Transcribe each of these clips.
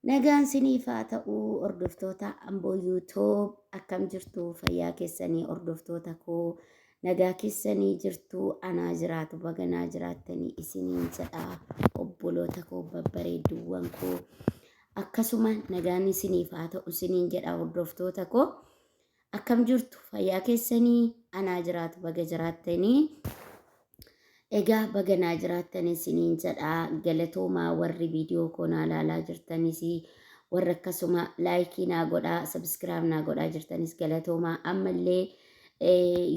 Nagaan siniif haa ta'u hordoftoota Amboo YouTube akkam jirtu fayyaa keessanii hordoftoota koo nagaa keessanii jirtu anaa jiraatu baganaa jiraattanii isiniin jedha obboloota koo babbareedduuwwan koo akkasuma nagaan isiniif haa ta'u isiniin jedha hordoftoota koo Akkam jirtu fayyaa keessanii anaa jiraatu baga jiraattanii. Egaa baga naa jiraattan isiniin jedha galatoomaa warri viidiyoo koo naa laalaa jirtanis warra akkasuma laayikii naa godhaa sabiskiraayib naa godhaa jirtanis galatoomaa ammallee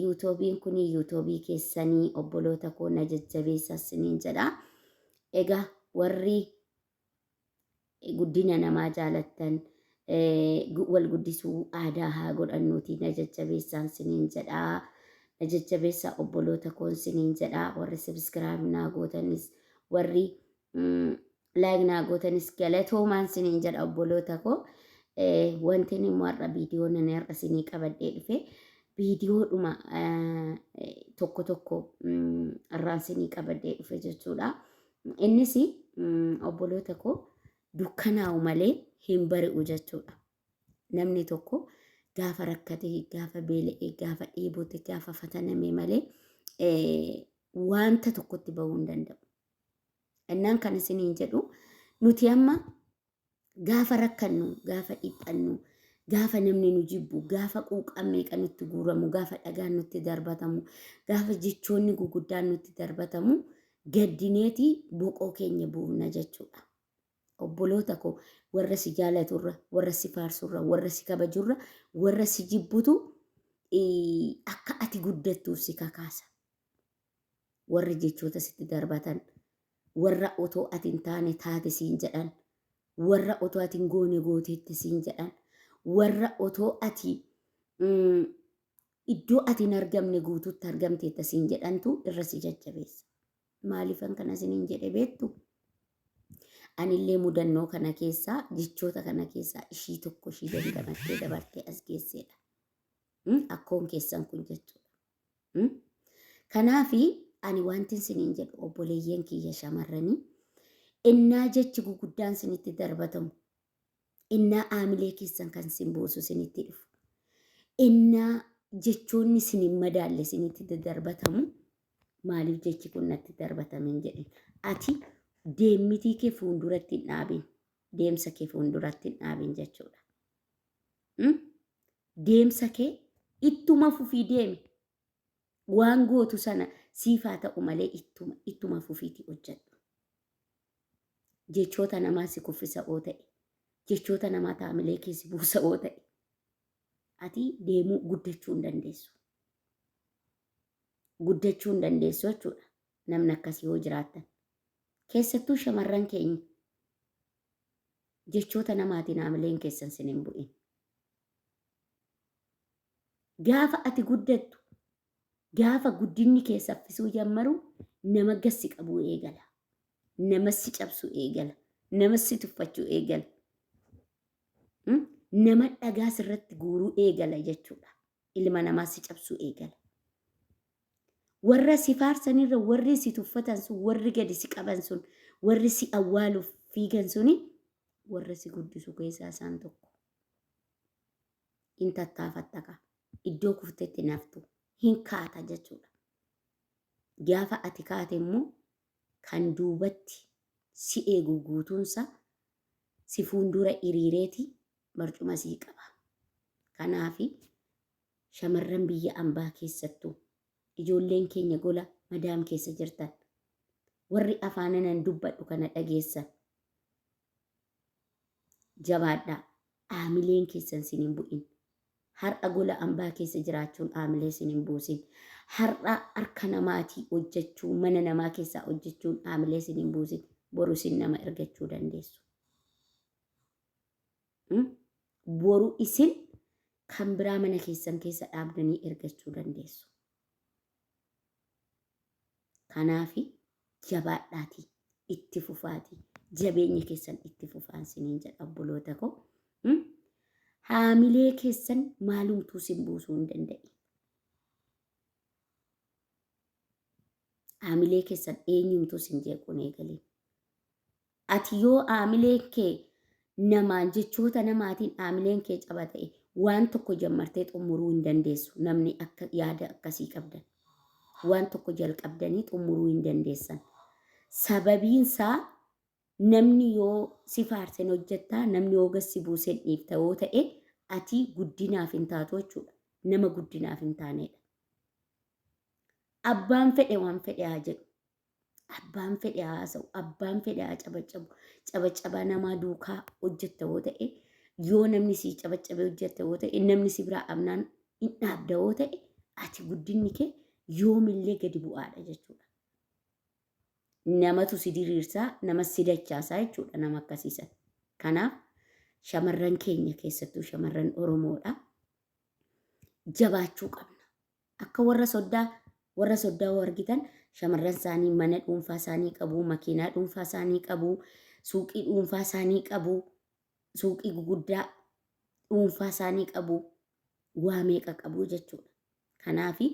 yuutuubiin kun yuutuubii keessanii obboloota koo na jajjabeessa isiniin jedha. Egaa warri guddina namaa jaalattan wal guddisuu aadaa haa godhannuuti na jajjabeessaan siniin jedhaa na jajjabeessaa obboloota koon siniin jedhaa warri sabiskiraayib naa gootanis warri laayik naa gootanis galatoomaan siniin jedha obboloota koo wanti inni immoo har'a viidiyoo nani har'a sinii qabadhee dhufe viidiyoodhuma tokko tokko irraan sinii qabadhee dhufe jechuudha. Innis obboloota koo dukkanaa'u malee hin bari'u jechuudha. Namni tokko gaafa rakkate, gaafa beela'e, gaafa dheebote, gaafa fataname malee wanta tokkotti bahuu hin danda'u. Innaan kan isiniin jedhu nuti amma Gaafa rakkannu, gaafa dhiphannu, gaafa namni nu jibbu, gaafa quuqaan meeqa nutti guuramu, gaafa dhagaan nutti darbatamu, gaafa jechoonni guguddaan nutti darbatamu gaddineeti boqoo keenya buufna jechuudha. Obboloota koo warra si jaalaturra, warra si faarsurra, warra si kabajurra, warra si jibbutu akka ati guddattuuf si kakaasa. warri jechoota sitti darbatan warra otoo ati hin taane taate siin jedhan warra otoo ati hin goone gooteetti siin jedhan warra otoo ati mm, iddoo ati hin argamne guutuutti argamteetta siin jedhantu irra si jajjabeessa. Maaliifan kana isiniin jedhe beektu? Anillee mudannoo kana keessaa jechoota kana keessaa ishii tokko ishii dandamattee dabartee as geesseedha. Mm, Akkoon keessan kun jechuudha. Mm? Kanaafi ani wantin siniin jedhu obboleeyyan kiyya shamarranii innaa jechi guguddaan sinitti darbatamu innaa aamilee keessan kan sin buusu sinitti dhufu innaa jechoonni sin hin madaalle sinitti dadarbatamu maaliif jechi kun natti darbatame hin jedhin ati deemmitii kee fuulduratti hin dhaabin deemsa kee fuulduratti hin dhaabin jechuudha. Mm? Deemsa kee ittuma fufii deemi. Waan gootu sana siif haa ta'u malee ittuma ittuma fufiitii hojjedhu. Jechoota namaa si kuffisa oo ta'e, jechoota namaa taamilee kee si buusa oo ta'e, ati deemuu guddachuu hin dandeessu. Guddachuu hin dandeessu jechuudha namni akkasii yoo jiraattan. Keessattuu shamarran keenya jechoota namaatiin haamileen keessan sin hin bu'in. Gaafa ati guddattu, gaafa guddinni kee saffisuu jammaru nama gassi qabuu eegala. Nama si cabsuu eegala. Nama si tuffachuu eegala. Nama dhagaa sirratti guuruu eegala jechuudha. ilma namaa si cabsuu eegala. Warra si faarsan irra warri si tuffatan sun warri gadi si qaban sun warri si awwaaluuf fiigan suni warra si guddisu keessaa isaan tokko. In tattaafatta kaa iddoo kuftetti naftu hin kaata jechuudha. Gaafa ati kaate immoo kan duubatti si eegu guutuunsa si fuuldura hiriireeti barcuma sii qaba. Kanaafi shamarran biyya ambaa keessattuu ijoolleen keenya gola madaam keessa jirtan warri afaananan dubbadhu kana dhageessan jabaadhaa aamileen keessan sin hin bu'in. Har'a gola ambaa keessa jiraachuun aamilee sin hin buusin. Har'a harka namaatii hojjechuu mana namaa keessaa hojjechuun aamilee sin hin buusin. Boru sin nama ergachuu dandeessu. Mm? Boru isin kan biraa mana keessan keessa dhaabdanii ergachuu dandeessu. Kanaaf jabaadhaatii itti fufaatii jabeenya keessan itti fufaan siniin jedha obboloota koo. Mm? Haamilee keessan maalumtuu sin buusuu hin danda'i. Haamilee keessan eenyumtuu sin jeequun eegalee. Ati yoo aamileen kee namaan jechoota namaatiin aamileen kee caba ta'e waan tokko jammartee xummuruu hin dandeessu namni akka yaada akkasii qabdan waan tokko jalqabdanii xummuruu hin dandeessan sababiin isaa namni yoo si faarsen hojjettaa namni yoo gassi buusen dhiifta yoo ta'e ati guddinaaf hin taatu jechuudha nama guddinaaf hin taaneedha abbaan fedhe waan fedhe haa jedhu abbaan fedhe haa haasa'u, abbaan fedhe haa cabaccabu, cabaccabaa namaa duukaa hojjetta yoo ta'e, yoo namni sii cabaccabe hojjetta yoo ta'e, namni si biraa dhabnaan hin dhaabda yoo ta'e, ati guddinni kee yoomillee gadi bu'aadha jechuudha. Namatu si diriirsaa, nama si dachaasaa jechuudha nama akkasiisan. Kanaaf shamarran keenya keessattuu shamarran Oromoodha. Jabaachuu qabna. Akka warra soddaa warra soddaa hoo argitan shamarran isaanii mana dhuunfaa isaanii qabu, makiinaa dhuunfaa isaanii qabu, suuqii dhuunfaa isaanii qabu, suuqii guguddaa dhuunfaa isaanii qabu, waa meeqa qabu jechuudha. Kanaafi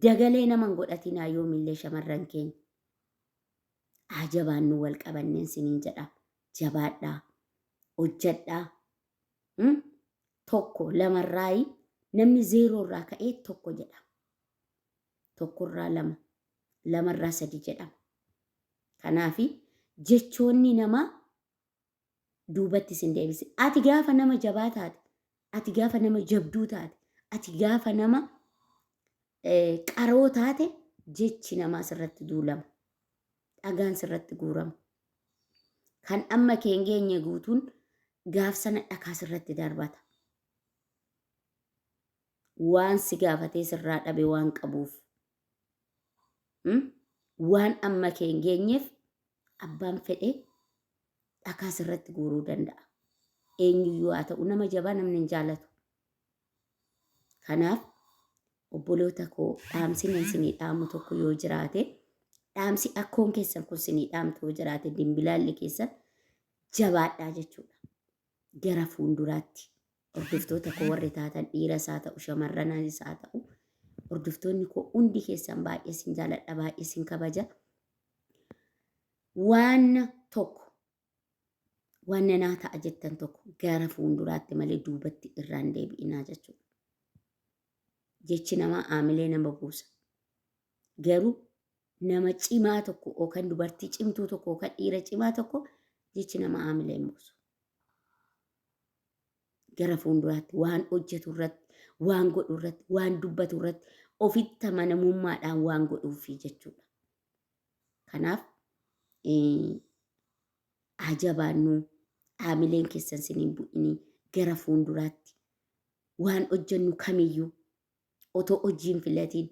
dagalee nama hin godhatinaa yoomillee shamarran keenya. Haa jabaannu wal qabanneen siniin jedha. Jabaadhaa. Hojjadhaa. Hmm? tokko lamarraayi namni zeeroo irraa ka'ee tokko jedhama. Tokkorraa lama, lamarraa sadi jedhama. Kanaaf jechoonni namaa duubatti isin deebise. Ati gaafa nama jabaa taate, ati gaafa nama jabduu taate, ati gaafa nama qaroo taate jechi namaa sirratti duulama. dhagaan sirratti guurama. Kan amma kee hin geenye guutuun gaaf sana dhakaa sirratti darbata. Waan si gaafatee sirraa dhabe waan qabuuf. Hmm? Waan amma kee hin geenyeef abbaan fedhe dhakaa sirratti guuruu danda'a. Eenyuyyuu haa ta'u nama jabaa namni hin jaalatu. Kanaaf obboloota koo dhaamsi nan sinii dhaamu tokko yoo jiraate dhaamsi akkoon keessan kun sinii dhaamtu yoo jiraate dimbilaalli keessan jabaadhaa jechuudha. Gara fuulduraatti hordoftoota koo warri taatan dhiiras haa ta'u shamarranis haa ta'u hordoftoonni koo hundi keessan baay'ee sin jaaladha baay'ee sin kabaja. Waan tokko waan nanaa ta'a jettan tokko gara fuulduraatti malee duubatti irraan deebi'inaa jechuudha. Jechi namaa aamilee nama buusa. Garuu nama cimaa tokko yookaan dubartii cimtuu tokko yookaan dhiira cimaa tokko jechi nama aamilee hin buusu. Gara fuulduraatti waan hojjetu irratti, waan godhu irratti, waan dubbatu irratti ofitti amanamummaadhaan waan godhuufi jechuudha. Kanaaf haa jabaannuu haamileen keessan siniin bu'inii gara fuulduraatti waan hojjennu kamiyyuu otoo hojiin filatiin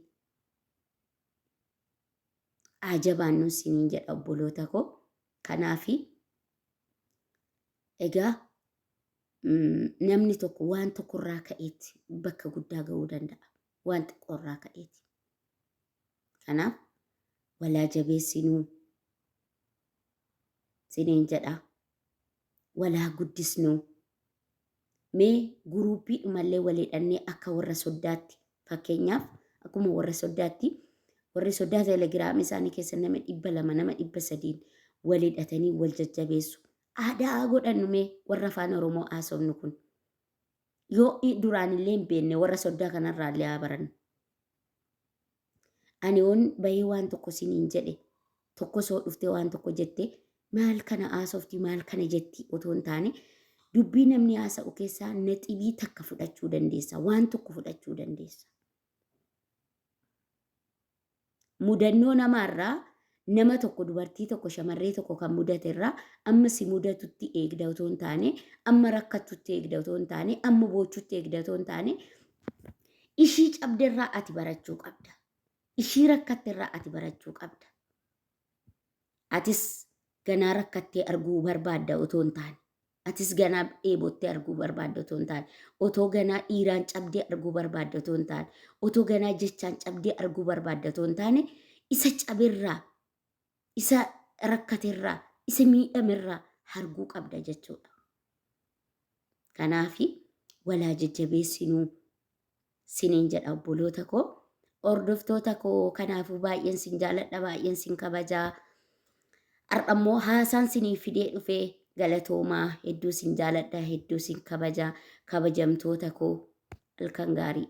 haa jabaannuu siniin jedha obboloota koo. Kanaaf egaa namni tokko waan tokkorraa ka'eetti bakka guddaa ga'uu danda'a. Waan xiqqoorraa ka'eeti. Kanaaf walaa jabeessinuu siniin jedha. Walaa guddisnuu. Mee guruuppii dhumallee walidhannee akka warra soddaatti fakkeenyaaf akkuma warra soddaatti warri soddaa telegiraamii isaanii keessa nama dhibba lama nama dhibba sadiin walidhatanii wal jajjabeessu. Aadaa godhannu mee warra afaan Oromoo haasofnu kun. Yoo duraanillee hin beekne warra soddaa kanarraallee haa barannu. Ani yoon bahee waan tokko siniin jedhe tokko soo dhuftee waan tokko jette maal kana haasofti maal kana jetti otoo hin taane dubbii namni haasa'u keessaa naxibii takka fudhachuu dandeessa waan tokko fudhachuu dandeessa. Mudannoo namaarraa nama tokko dubartii tokko shamarree tokko kan mudate irraa amma si mudatutti eegda otoo hin taane amma rakkattutti eegda otoo hin taane amma boochutti eegda otoo hin taane ishii cabde irraa ati barachuu qabda. Ishii rakkatte irraa ati barachuu qabda. Atis ganaa rakkattee arguu barbaadda otoo hin taane Atis ganaa dheebottee arguu barbaadda otoo hin taane, otoo ganaa dhiiraan cabdee arguu barbaadda otoo hin taane, otoo ganaa jechaan cabdee arguu barbaadda otoo hin taane, isa caberraa, isa rakkaterraa, isa miidhamerraa arguu qabda jechuudha. Kanaafi walaa jajjabeessinuu sinin jedha obboloota koo hordoftoota koo kanaafuu baay'een sin jaaladha baay'een sin kabajaa har'a immoo haasaan siniif fidee dhufe galatoomaa hedduu sin jaaladha hedduu sin kabaja kabajamtoota koo halkan gaarii.